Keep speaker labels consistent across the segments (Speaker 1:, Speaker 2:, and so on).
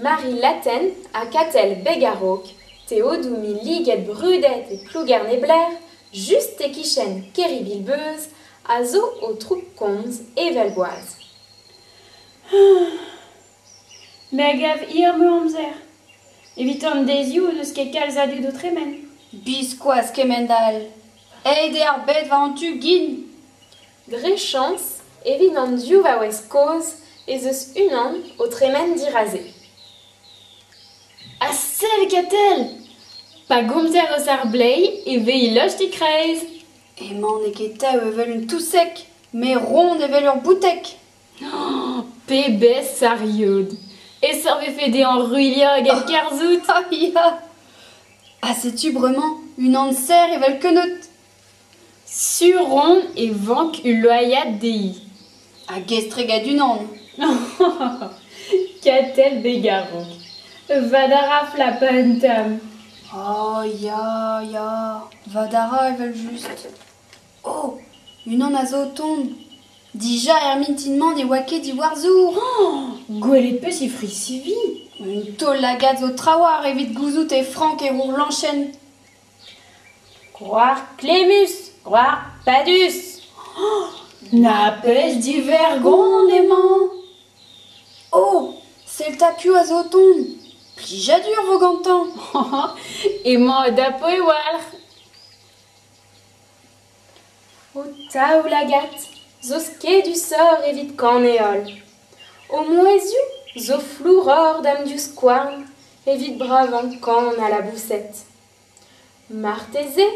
Speaker 1: Marie-Laten ha Katell Beg a-raok, teodoù-mi liget brudet e Plougerne-Blair, just e-kichen Kerivilbeuz, a zo o troug-komz evel boaz.
Speaker 2: Me a gav hir meur-amzer. Evit an deizioù n'eus ket kalz a dud o tremen. Biskoazh
Speaker 3: kement all. Aet eo ar bed war-zu gin. Dre
Speaker 1: chañs, evit an div vaouez kozh ez eus unan o tremen diraze.
Speaker 2: Ha sell Katell ! Pa gomzer eus ar bleiz e vez lost e-kreiz. Emañ n'eo
Speaker 3: ket tev evel un touseg, met ront evel ur bouteg.
Speaker 2: Pebezh sariod! E-seurt 'vefe dezhañ ruilhañ hag enkerzhout! Ah ya!
Speaker 3: Ha setu bremañ unan serr evel keneud!
Speaker 2: Sur on e vank ul loaiad dezhi. Hag estret
Speaker 3: gant unan!
Speaker 2: Katell Begarrog. Va da ra flapañ un tamm. Ah
Speaker 3: ya, ya! Va da ra evel-just. Oh ! unan a zo o tont ! Dija er mintin-mañ ne oa ket Iwerzhour hañ ! Gwelet
Speaker 2: 'peus he frizh-sivi ? Un taol-lagad
Speaker 3: zo trawalc'h evit gouzout eo frank e Rourlañchenn. Gwrac'h
Speaker 1: klemmus ! Gwrac'h padus !
Speaker 2: Na 'peus divergont emañ ?
Speaker 3: Oh ! sell 'ta piv a zo o tont ! Plijadur vo gantañ !
Speaker 2: Emañ o dapoù e walc'h.
Speaker 1: Ho taoulagad zo skedusoc'h evit kaneal. Ho mouezhioù zo flouroc'h d'am divskouarn evit bravañ kan ha laboused. Marteze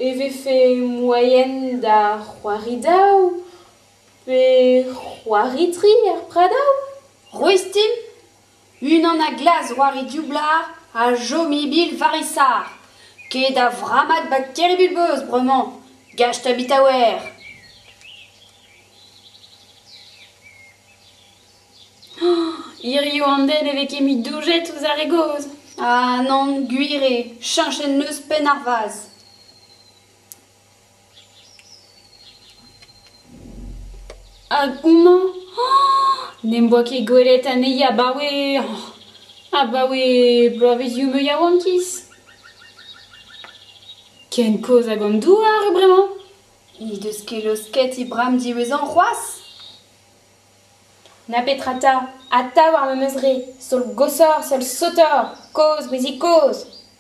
Speaker 1: e vefe moaien da c'hoari daou pe c'hoari tri er pradaoù? Roistin.
Speaker 3: Unan a-glas war e dioublard a chom e-bil war e sac'h. Ket a vrammad bakteria bulbos bremañ, gach tabitaouer !
Speaker 2: Hiziv an den ne vez ket mui doujet ouzh ar re gozh. Ha nann,
Speaker 3: gwir eo, cheñchet 'neus penn ar vazh.
Speaker 2: Hag houmañ n'em boa ket gwelet anezhi abaoe abaoe bloavezioù meur yaouankiz. Ken kozh hag an douar eo bremañ. He deus
Speaker 3: ket laosket he bramm diwezhañ c'hoazh.
Speaker 1: Na petra 'ta, atav ar memes re, sol gosoc'h, sol sotoc'h, kozh, brezig kozh.